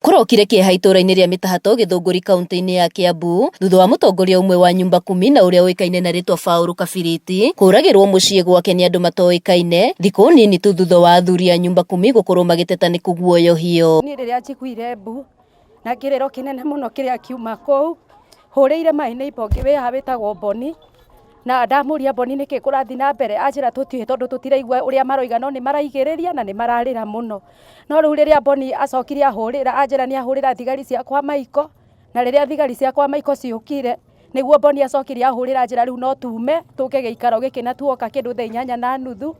Kũrokire kĩeha itũũra-inĩ rĩa Mĩtahatũ Gĩthũngũri kaũntĩ-inĩ ya Kĩambu thutha wa mũtongoria ũmwe wa Nyumba Kumi na ũrĩa ũĩkaine na rĩtwa Paul Kabiriti kũragĩrwo mũciĩ gwake nĩ andũ matoĩkaine thikũ nini tu thutha wa athuri a Nyumba Kumi gũkorwo magĩteta nĩ kũguoyohio. Niĩ rĩrĩa njiguire mbu na kĩrĩro kĩnene mũno kĩrĩa kiuma kũu, hũrĩire my neighbour ũngĩ wĩ haha wĩtagwo Bonny. na ndamũria mboni nĩkĩ kũrathiĩ na mbere anjĩra tũtiũĩ tondũ tũtiraigua ũrĩa maroiga no nĩ maraigĩrĩria na nĩ mararĩra mũno no rĩu rĩrĩa mboni acokire ahũrĩra anjĩra nĩ ahũrĩra thigari ciakwa maiko na rĩrĩa thigari ciakwa maiko ciũkire nĩguo mboni acokire ahũrĩra anjĩra rĩu no tume tũke gĩikaro gĩkĩ na tuoka kĩndũ thaa inyanya na nuthu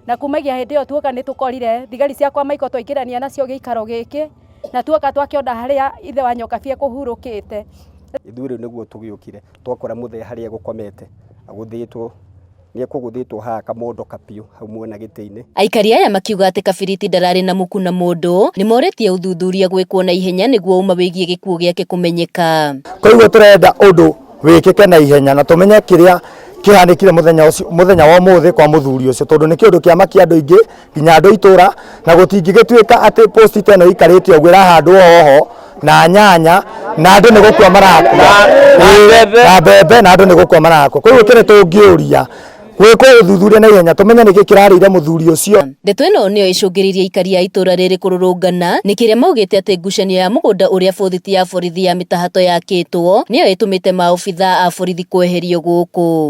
na kumagia hĩndĩ ĩyo tuoka nĩ tũkorire thigari ciakwa maiko twaingĩrania nacio gĩikaro gĩkĩ na tuoka twakĩona harĩa ithe wa nyoka biĩ kũhurũkĩte ithuĩ rĩu nĩguo tũgĩũkire twakora mũthee harĩa egũkomete agũthĩtwo nĩekũgũthĩtwo haha akamondoka biũ hau mwena gĩtĩ-inĩ. Aikari aya makiuga atĩ Kabiriti ndararĩ na mũku na mũndũ, nĩmorĩtie ũthuthuria gwĩkwo na ihenya nĩguo ũma wĩgiĩ gĩkuũ gĩake kũmenyeka. Koguo tũrenda ũndũ wĩkĩke na ihenya na tũmenye kĩrĩa kĩhanĩkire mũthenya wa ũmũthĩ kwa mũthuri ũcio tondũ nĩ kĩũndũ kĩamakia andũ aingĩ nginya andå itå ra na gå tingägätuä ka atä posti ta ä no ikarä te å guo ĩrahandwo hoho na nyanya na andå nä gå kua marakua mbembe. na mbembe na andå nä gå kua marakua koguo kä nä tå ngä å ria gwä kwo å thuthuria na ihenya tå menye nä kä kä rarä ire må thuri å cio Ndeto ĩno nĩyo ĩcũngĩrĩirie aikari a itũra rĩrĩ kũrũrũngana nĩ kĩrĩa maugĩte atĩ ngucanio ya mũgũnda ũrĩa bũthiti ya borithi ya mĩtahato yakĩtwo nĩyo ĩtũmĩte maobithaa a borithi kweherio gũkũ.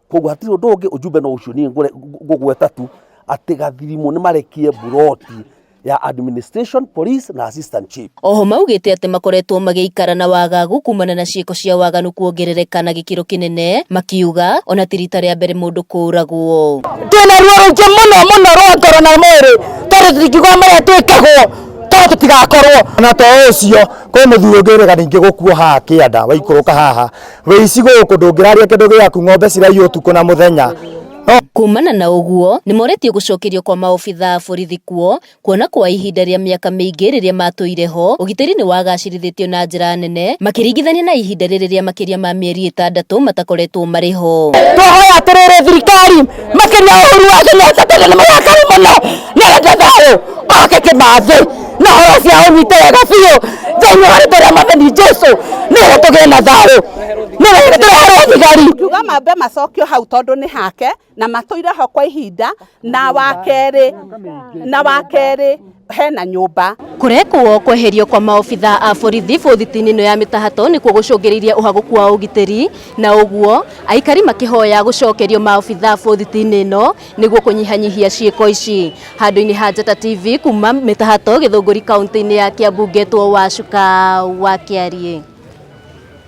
koguo hatirĩ ũndũ ũngĩ ũjumbe no ũcio niĩ ngũre- ngũ- ngũgweta tu atĩ gathirimũ nĩ marekie mburoti ya administration police na assistant chief Oho maugĩte atĩ makoretwo magĩikara na wagagu kumana na ciĩko cia waganu kuongerereka na gĩkĩro kĩnene makiuga ona ti rita rĩa mbere mũndũ kũũragwo. twĩna ruo rũingĩ mũno mũno rwa ngoro na mwĩrĩ tondũ tũtingiuga marĩa twĩkagwo tondũ tũtigakorwo na to ũcio kwĩ mũthuri ũngĩ ũrega ningĩ gũkuo haha kĩanda waikũrũka haha Wĩ icigo ũkũ ndũngĩraria kĩndũ gĩaku ng'ombe ciraiywo ũtukũ na mũthenya. Kumana na ũguo, nĩ moretio gũcokerio kwa maobitha a borithi kuo, kuona kwa ihinda rĩa mĩaka mĩingĩ rĩrĩa matũire ho, ũgitĩri nĩ wagacĩrithĩtio na njĩra nene makĩringithania na ihinda rĩrĩ rĩa makĩria ma mĩeri ĩtandatũ matakoretwo marĩ ho. Twahoya atĩrĩrĩ thirikari makĩria Uhuru wa Kenyatta tondũ nĩ mũrakaru mũno nĩ arenda thayũ oke Kĩmathi. na horo cia ũnyite wega biũ thĩinĩ wa rĩtwa rĩa mathani jesu nĩgetha tũgĩe na thayũ nĩgetha tũreherwo thigari ngiuga mambe macokio hau tondũ nĩ hake na matũire ho kwa ihinda na wa kerĩ na wa kerĩ hena nyũmba Kũrekwo kweherio kwa maobitha a borithi bũthiti-inĩ ĩno ya mĩtahato nĩkuo gũcũngĩrĩirie ũhagũku wa ũgitĩri na ũguo aikari makĩhoya gũcokerio maobitha bũthiti-inĩ ĩno nĩguo kũnyihanyihia ciĩko ici handũ-inĩ ha Njata TV kuma mĩtahato gĩthũngũri kaunti-inĩ ya Kiambu ngetwo Wacuka wa Kĩariĩ.